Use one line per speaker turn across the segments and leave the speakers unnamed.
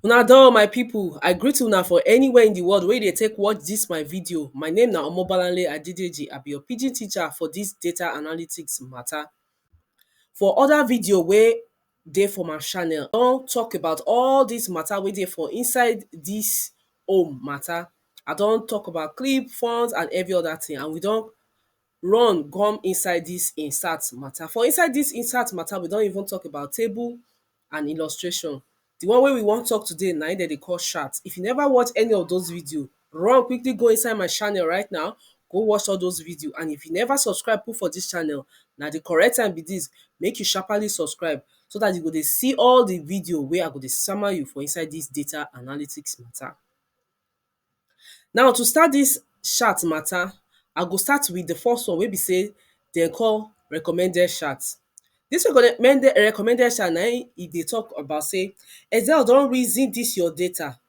Una do my people, I greet una for anywhere in the world where they take watch this my video. My name na Omobalanle Adedeji, I be your pidgin teacher for this data analytics matter. For other video where they for my channel, don talk about all this matter where they for inside this home matter. I don talk about clip, funds and every other thing and we don run come inside dis insert matter. For inside dis insert matter, we don even talk about table and illustration. The one wey we wan talk today na im dem dey call chart. If you never watch any of those videos, run quickly go inside my channel right now, go watch all those videos. And if you never subscribe put for dis channel, na the correct time be dis. Make you sharpaly subscribe so dat you go dey see all the videos wey I go dey sama you for inside dis data analytics matter. Now to start dis chat matter, I go start with the first one wey be sey de call recommended chat. Dis recommended recommended chat na im e dey talk about sey Excel don reason dis your data,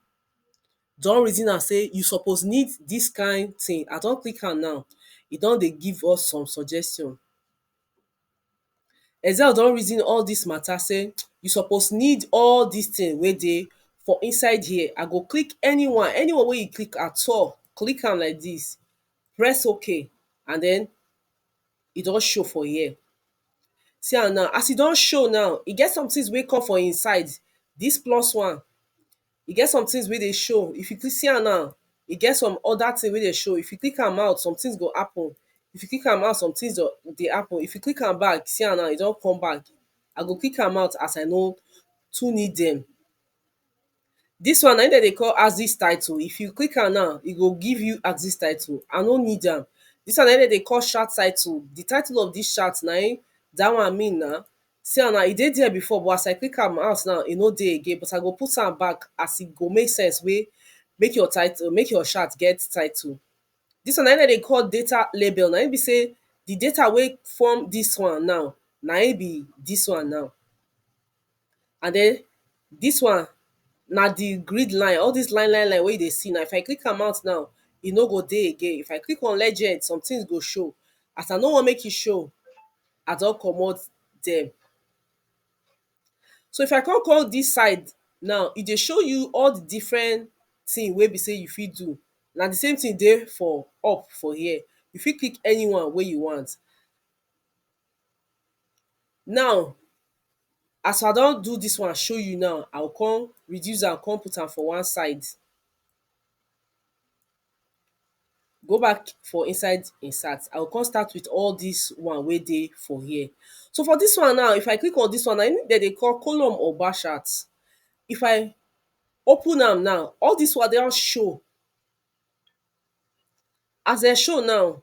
don reason am sey you suppose need dis kind thing. I don click am now. E don dey give us some suggestion. Excel don reason all dis matter sey you suppose need all dis thing wey dey for inside here. I go click anyone. Anyone wey you click at all, click am like dis. Press okay and den e don show for here. See am now. As e don show now, e get some things wey come for im side. Dis plus one e get some things wey dey show if you see am now e get some other thing wey dey show if you click am out somethings go happen if you click am out somethings go dey happen if you click am back see am now e don come back I go click am out as I no too need dem this one na him dem dey call axis title if you click am now e go give you axis title I no need am this one na him dem dey call chart title the title of this chart na him that one mean na See am now, e dey there before but as I take am out now, e no dey again but I go put am back as e go make sense wey make your title, make your chat get title. Dis one na im dem dey call data label, na im be sey de data wey form dis one now, na im be dis one now. And den dis one na de grid line, all dis line line line wey you dey see now, if I click am out now, e no go dey again. If I click on legend, somethings go show. As I no want make e show I don comot dem so if I come come this side now e dey show you all the different thing wey be say you fit do na the same thing dey for up for here you fit click anyone wey you want now as I don do this one show you now I go come reduce am come put am for one side go back for inside im search I go come start with all dis one wey dey for here so for dis one now if I click on dis one now na im dem dey call column or bar chart if I open am now all dis one don show as dem show now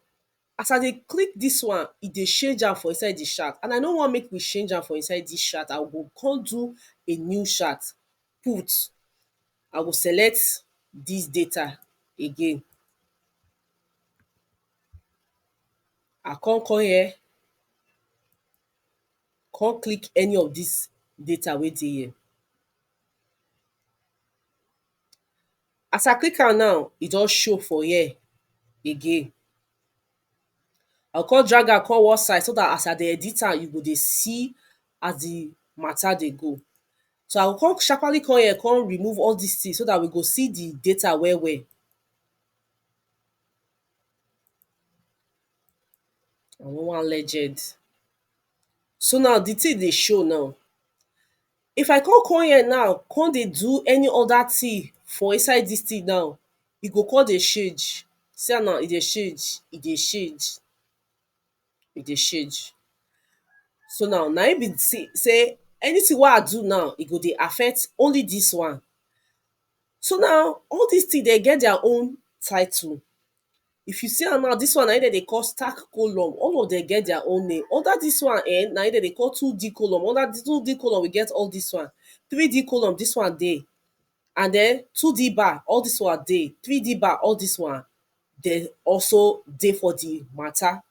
as I dey click dis one e dey change am for inside de chart and I no want make we change am for inside dis chart I go come do a new chart put I will select this data again I come come here come click any of this data wey dey here as I click am now e don show for here again I go come drag am come one side so that as I dey edit am you go dey see as the matter dey go So I go come sharpaly come here come remove all dis things so dat we go see di data well well I no wan legend so now di thing dey show now if I come come here now come dey do any other thing for inside dis thing now e go come dey change see am now e dey change e dey change e dey change so now na im be sey sey anything wey I do now e go dey affect only this one so now all this thing dem get their own title if you see am now this one na im dem dey call stack column all of them get their own name under this one um na im dem dey call 2D column under 2D column we get all this one 3D column this one dey and den two D bar all dis one dey, three D bar all dis one dey also dey for di mata.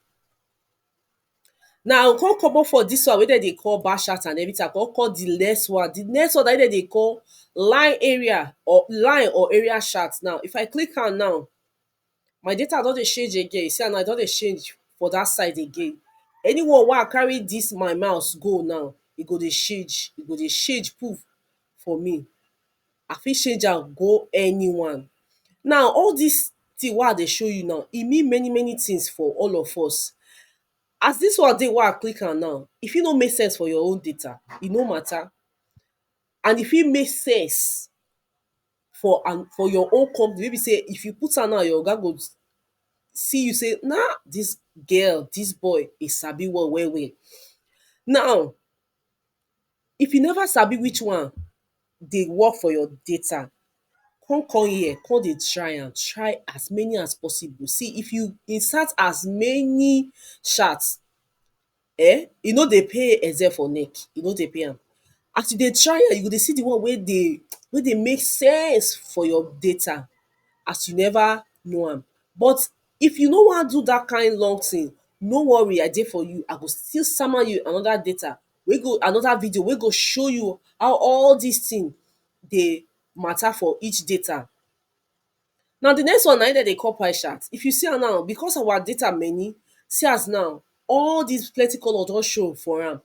Now we kon comot for dis one wey den dey call bar chart and everytin I kon call di next one, di next one naim den dey call line area or line or area chart now, if I click am now My data don dey change again, see am now e don dey change for dat side again Anyone wey I carry dis my mouse go now, e go dey change, e go dey change poof for me I fit change am go anyone Now all dis thing wey I dey show you now, e mean many many things for all of us As dis one dey wey I click am now, e fit no make sense for your own data, e no matter and e fit make sense for an for your own company wey be sey if you put am now your oga go see you sey na dis girl dis boy e sabi work well well now if you never sabi which one dey work for your data come come here come dey try am try as many as possible see if you insert as many chat um e no dey pay eze for neck, e no dey pay am. As you dey try am, you go dey see di one wey dey wey dey make sense for your data as you neva know am. But if you no wan do dat kain long tin, no worry I dey for you, I go still sama you anoda data wey go anoda video wey go show you how all dis tin dey mata for each data. Now the next one na im dem dey call pie chart. If you see am now, because our data many, see as now all these plenty colour don show for am.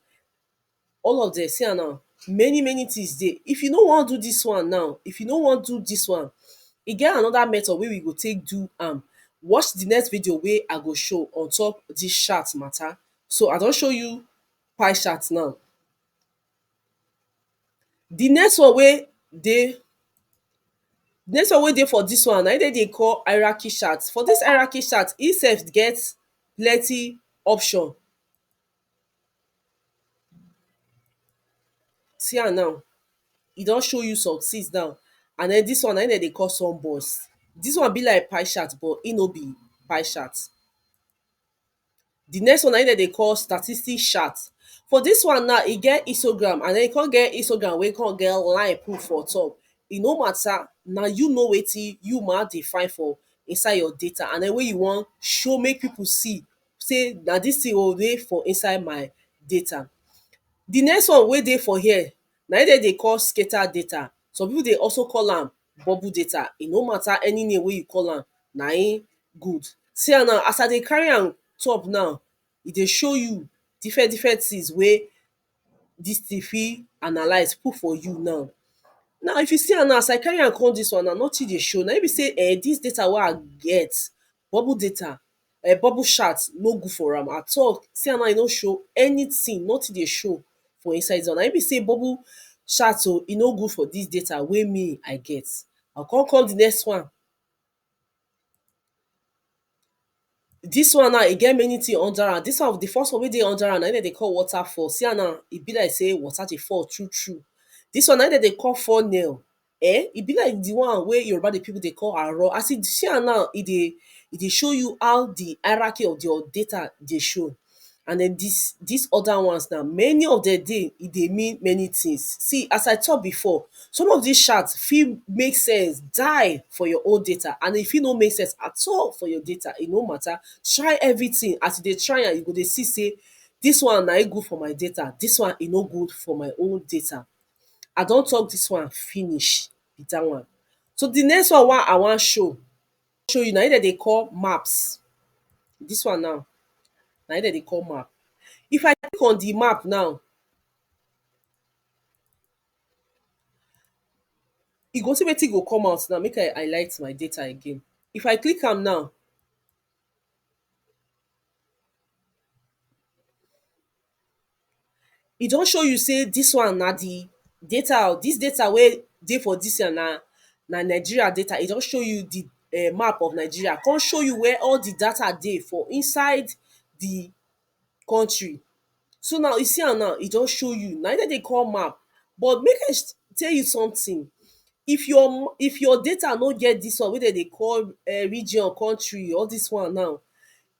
All of dem, see am now, many many things dey. If you no wan do this one now, if you no wan do this one, e get another method wey we go take do am. Watch the next video wey I go show on top this chart matter. So I don show you pie chart now. The next one wey dey the next one wey dey for this one na him dem dey call hierarchy chart. For this hierarchy chart, e sef get plenty option see am now e don show you some things now and then this one na him dem dey call sum box. This one be like pie chart but e no be pie chart. Di next one na im dem dey call statistic chart For dis one now, e get histogram and then e come get histogram wey come get line put for top E no matter, na you know wetin you ma dey find for inside your data and then wey you wan show make people see say na dis thing o dey for inside my data Di next one wey dey for here na im dem dey call stater data Some people dey also call am bubble data e no matter any name wey you call am na im good see am now as I dey carry am top now e dey show you different different things wey this thing fit analyse put for you now now if you see am now as I carry am come this one now nothing dey show na im be sey um this data wey I get bubble data um bubble chat no good for am at all see am now e no show anything nothing dey show for inside dis one na im be sey bubble chat oh e no good for dis data wey me I get I go come call the next one dis one now e get many thing under am dis one the first one wey dey under am na im dem dey call waterfall see am now e be like sey water dey fall through through dis one na im dem dey call funnel um e be like di one wey Yoruba pipu dey call aro, as you see am now e dey e dey show you how di hierarchy of your data dey show and den dis dis oda ones na many of dem dey e dey mean many tins. See as I talk before, some of dis chart fit make sense die for your own data and e fit no make sense at all for your data, e no mata, try everytin as you dey try am you go dey see sey dis one naim good for my data, dis one e no good for my own data. I don talk this one finish be that one. So the next one wey I wan show show you na im dem dey call maps. This one now na im dem dey call map. If I click on the map now you go see wetin go come out now. Make I highlight my data again. If I click am now e don show you sey dis one na di data o, dis data wey dey for dis one na na Nigeria data, e don show you di um map of Nigeria, con show you where all di data dey for inside di country. So now, you see am now, e don show you, na im den dey call map. But mek I tell you sometin, if your if your data no get dis one wey den dey call um region, country, all dis one now,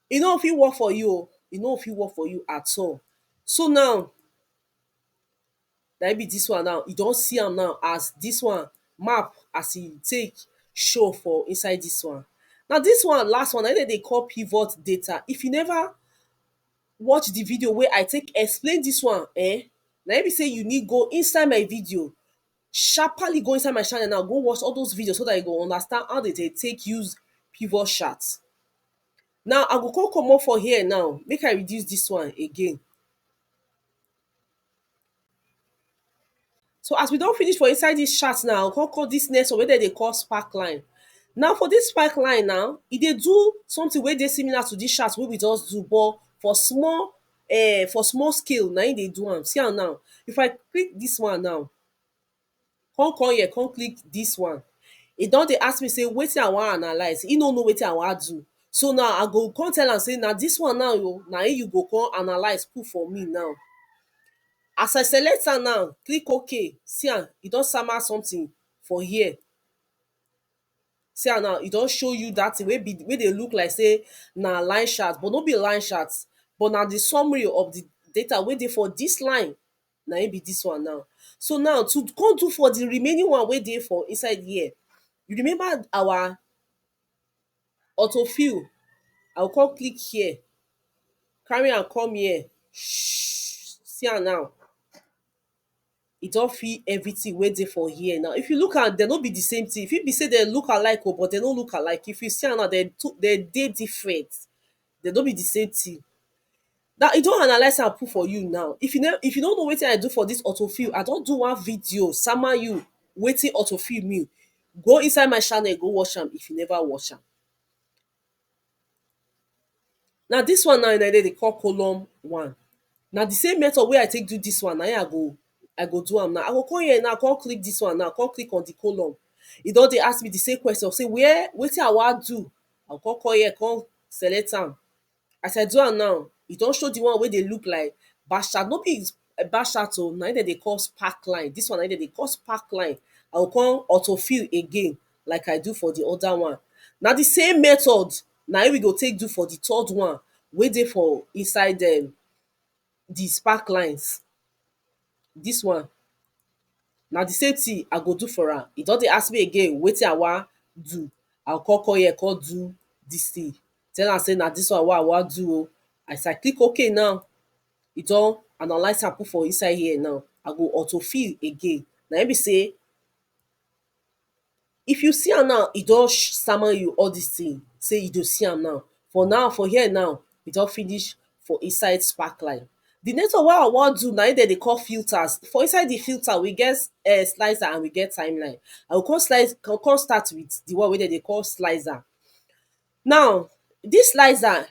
e no go fit work for you oh, e no go fit work for you at all so now na im be dis one now, you don see am now as dis one map as e take show for inside dis one na dis one last one na im dem dey call pivot data if you never watch the video wey I take explain dis one um na im be sey you need go inside my video sharpaly go inside my channel now go watch all those videos so dat you go understand how dem dey take use pivot chart Now I go come comot for here now make I reduce dis one again So as we don finish for inside dis chat now, come come dis next one wey dem dey call spark line Now for dis spark line now, e dey do something wey dey similar to dis chat wey we just do but for small um for small scale na im dey do am. See am now If I click dis one now con come here con click dis one e don dey ask me sey wetin i wan analyse, he no know wetin i wan do so now i go con tell am sey na dis one now o na im you go con analyse put for me now as i select am now, click ok, see am, e don sama something for here see am now, e don show you dat thing wey be, wey dey look like sey na line chart but no be line chart but na the summary of the data wey dey for dis line na im be dis one now so now to come do for the remaining one wey dey for inside here you remember our auto fill I go come click here carry am come here see am now e don fill everything wey dey for here now if you look am dem no be the same thing e fit be say dem look alike oo but dem no look alike if you see am now dem dey different dem no be the same thing now i don analyse am put for you now if you no if you no know wetin i do for this auto fill i don do one video sama you wetin auto fill mean go inside my channel go watch am if you never watch am na this one now dem dey call column one na the same method wey i take do this one na him i go i go do am now i go come here now come click this one now come click on the column e don dey ask me the same question say where wetin i wan do I go come come here come select am as I do am now e don show di one wey dey look like bash chat no be bash chat oh na im dem dey call spark line dis one na im dem dey call spark line I go come auto fill again like I do for di other one na di same method na im we go take do for di third one wey dey for inside um di spark lines dis one na di same tin I go do for am, e don dey ask me again wetin I wan do I go kon come here kon do dis tin tell am sey na dis one wey I wan do o as I click ok now e don analyse am put for inside here now I go auto fill again naim be sey if you see am now e don sama you all dis thing sey you dey see am now for now for here now e don finish for inside sparkline the next one wey i wan do na im dem dey call filters for inside the filter we get um slicer and we get timeline i go come slice i go come start with the one wey dem dey call slicer now this slicer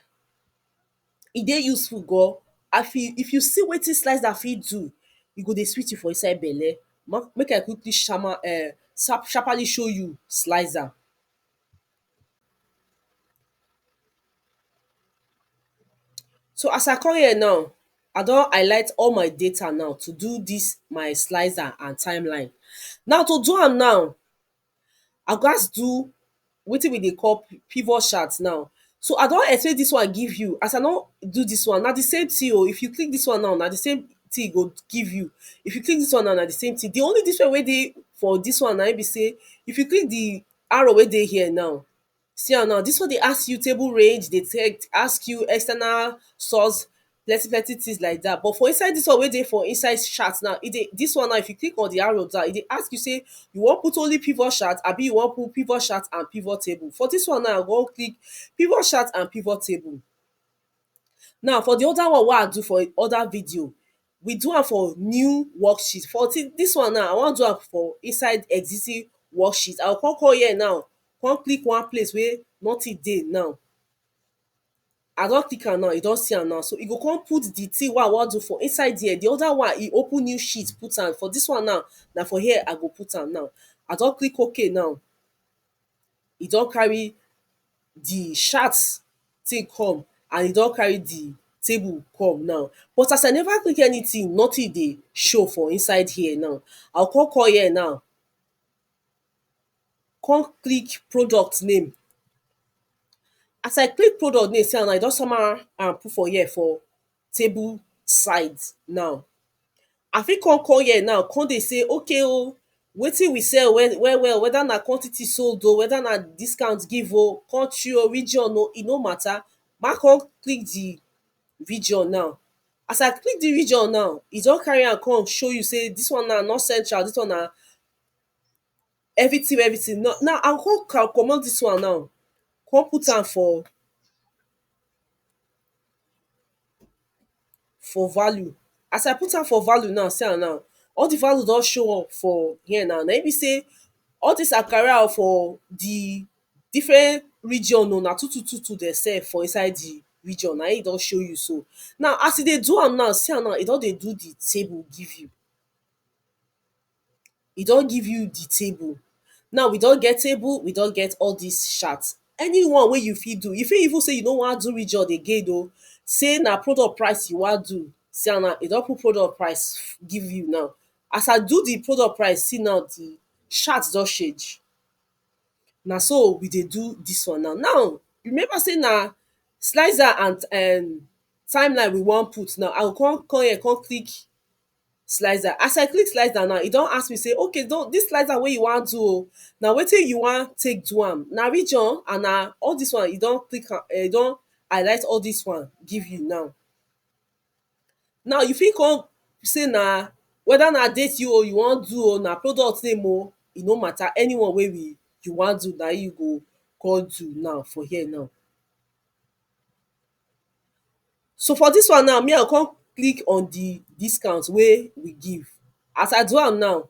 e dey useful gan as in if you see wetin slicer fit do e go dey sweet you for inside belle ma make i quickly shama um sap sharpaly show you slicer so as i come here now i don highlight all my data now to do dis my slicer and timeline now to do am now I go gats do wetin we dey call pivot chart now. So I don explain dis one give you, as I no do dis one, na di same tin o, if you click dis one now, na di same tin e go give you, if you click dis one now, na di same tin. Di only difference wey dey for dis one na ein be sey if you click di arrow wey dey here now, See am now dis one dey ask you table range dey tell ask you external source plenty plenty things like dat but for inside dis one wey dey for inside chart now e dey dis one now if you click on the arrow down e dey ask you sey you wan put only pivot chart abi you wan put pivot chart and pivot table for dis one now i wan click pivot chart and pivot table now for the other one wey i do for other video we do am for new worksheet for dis dis one now i wan do am for inside existing worksheet i go come come here now come click one place wey nothing dey now i don click am now you don see am now so you go come put the thing wey i wan do for inside there the other one e open new sheet put am for dis one now na for here i go put am now i don click ok now e don carry di sharks thing come and e don carry di table come now but as I never take anything nothing dey show for inside here now I go come come here now come click product name as I click product name see am now e don sama am put for here for table side now I fit come come here now come dey say okay oh wetin we sell well well whether na quantity sold oh whether na discount give oh country oh region oh e no matter ma come click the region now as I click the region now e don carry am come show you say this one now north central this one na everything wey everything now now I go come commot this one now come put am for for value as I put am for value now see am now all the value don show up for here now na im be sey all this akara ah for the different region oh na two two two two dem sell for inside the region na im e don show you so now as e dey do am now see am now e don dey do the table give you e don give you di table now we don get table we don get all dis shirt any one wey you fit do you fit even sey you no wan do region again oh sey na product price you wan do see am now e don put product price give you now as I do di product price see now di shirt don change na so we dey do dis one now, now remember sey na slicer and um time line we wan put now I go come come here come click slicer as I click slicer now e don ask me say okay don dis slicer wey you wan do o na wetin you wan take do am na region and na all dis one e don click am e don highlight all dis one give you now now you fit come say na weda na date you o you wan do o na product name o e no mata any one wey we you wan do na im you go come do now for here now So for dis one now me I go come click on di discount wey we give as I do am now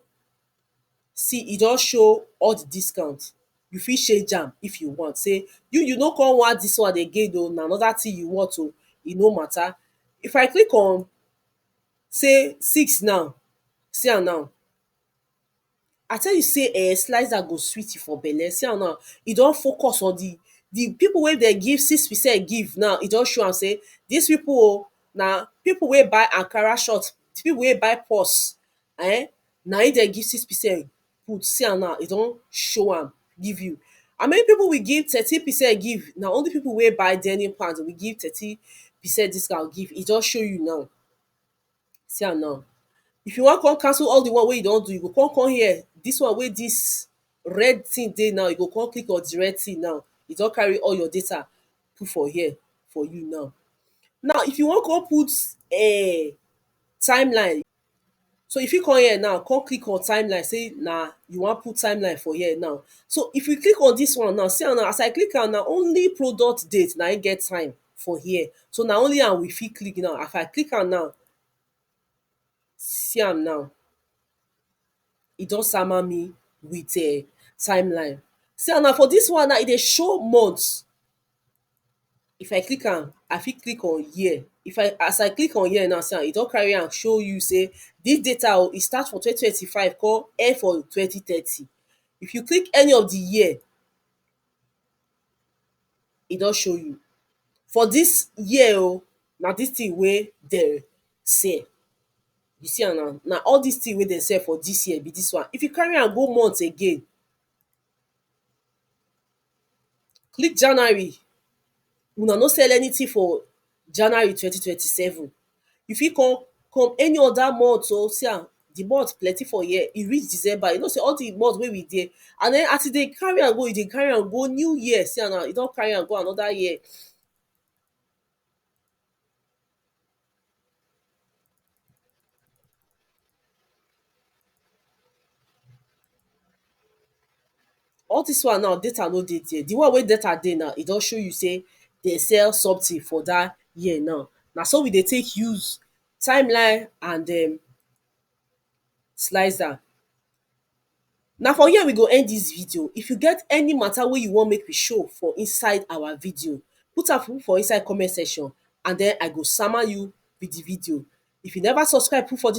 see e don show all di discount you fit change am if you want sey you you no come want dis one again oh na another thing you want oh e no matter if I click on sey six now see am now I tell you sey um slicer go sweet you for belle, see am now e don focus on di di pipu wey dem give six percent give now e don show am sey dis pipu o na pipu wey buy ankara short, pipu wey buy purse um na im dem give six percent put, see am now e don show am give you. How many pipu we give thirteen percent give, na only pipu wey buy denim pant we give thirteen percent discount give, e don show you now see am now if you wan come cancel all the one wey you don do, you go con come here dis one wey dis red thing dey now, you go con click on the red thing now e don carry all your data put for here for you now now if you wan con put um timeline so you fit come here now con click on timeline sey na you wan put timeline for here now so if you click on dis one now, see am now as I click am now, only product date na im get time for here so na only am we fit click now as I click am now see am now e don sama me with um time line see am now for dis one now e dey show months if I click am I fit click on year if I as I click on year now see am e don carry am show you sey dis data oh e start from twenty twenty five come end for twenty thirty if you click any of de year e don show you for dis year oh na dis thing wey dem sell you see am now na all dis thing wey dem sell for dis year be dis one if you carry am go month again dis January una no sell anything for January twenty twenty seven you fit come come any other month oh see am the month plenty for year e reach December you know sey all the month wey we dey and then as you dey carry am go you dey carry am go new year see am now you don carry am go another year all dis one now data no dey there the one wey data dey now e don show you sey they sell something for dat year now na so we dey take use time line and um slicer Na for here we go end dis video, if you get any matter wey you wan make we show for inside our video put am for me for inside comment section and den I go sama you with the video. If you never subscribe put for dis